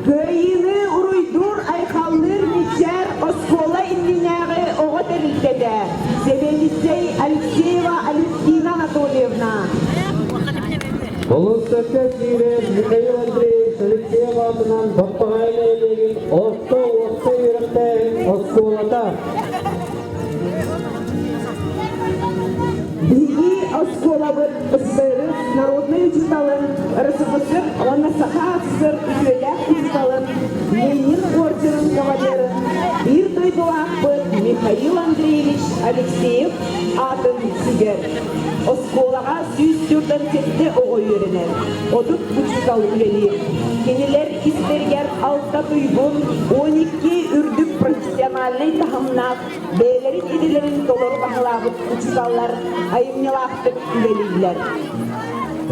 Кыайыыны уруйдуур, айхаллыыр мичээр оскуола иннинээҕи оҕо тэрилтэтэ сэбиэдиссэй Алексеева Алевтина Анатольевна. Болуоссакка киирэн Михаил Андреевич Алексеев аатынан Баппаҕай нэһилиэгин орто уопса үөрэхтээһин оскуолата Биһиги оскуолабыт СССР народнай учууталын РСФСР уонна Саха СССР үтүөлээх учууталын Ленин ордерын кавалерын биир дойдулаахпыт Михаил Андреевич Алексеев аатын сүгэр. Оскуолаҕа сүүс төрдөн сэттэ оҕо үөрэнэр, отут учуутал үлэлиир. Кинилэр истэригэр алта туйгун, он икки үрдүк национальнай таһымнаах бэйэлэрин идэлэрин толору баһылаабыт учууталлар айымньылаахтык үлэлииллэр.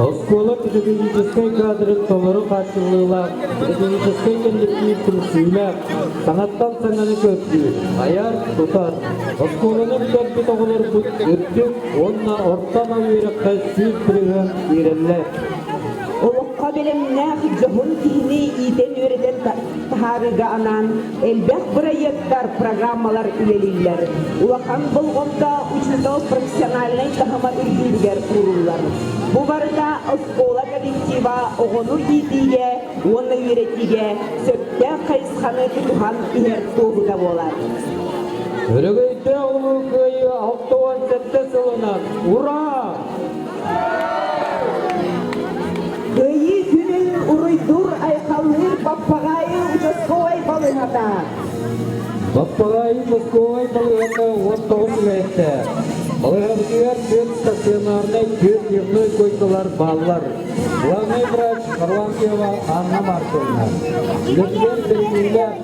Оскуола педагогическай кадрын толору хааччыллыылаах педагогическай коллектив түмсүүлээх, саҥаттан саҥаны көрдүү, айар, тутар. Оскуоланы бүтэрбит оҕолорбут үрдүк уонна ортоно үөрэххэ сүүс тырыһыан иирэллэр. Олоххо бэлэмнээх дьоһун киһини иитэн-үөрэтэн таһаарыыга анаан Элбэх бырайыактар, программалар үлэлииллэр. Улахан болҕомто учуутал профессиональнай таһыма үрдүүрүгэр ууруллар. Бу барыта оскуола коллектива оҕону иитиигэ уонна үөрэтиигэ сөптөөх хайысханы тутуһан иһэр туоһута буолар. Өрөгөйдөөх улуу кыайыы алта уон сэттэ сылынан ура! Кыайыы күнүн уруйдуур айхаллыыр Баппаҕаайы участковай балыһата. Баппаҕаайы участковай балыһата уоттоҕун түбэһиттэ. Балыһабытыгар түөрт стационарнай түөрт дневной койкалар бааллар. Главный врач Харлампьева Анна Марковна. Үлэтигэр бэриниилээх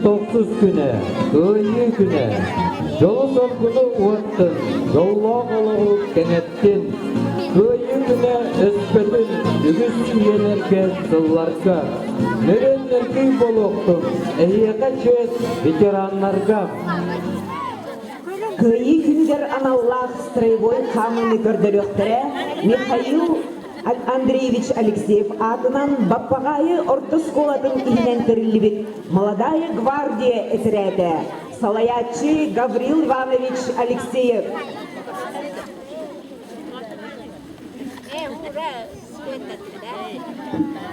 Тоқсус күнэ, Кыайыы күнэ, дьолу-соргуну уоттun, дьоллоох олоҕу кэҥэттин. Кыайыы күнэ өспөтүн үгүс үйэлэргэ, сылларга. Нөрөннөрдүү болуохтун, эһиэхэ чүөс ветераннарга. Кыайыы күнүгэр аналлаах строевой хаамыыны көрдөрүөхтэрэ Михаил Андреевич Алексеев аатынан Баппаҕаайы орто оскуолатын иһинэн тэриллибит «Молодая гвардия» эсэрээтэ, салайааччы Гаврил Иванович Алексеев. Thank you.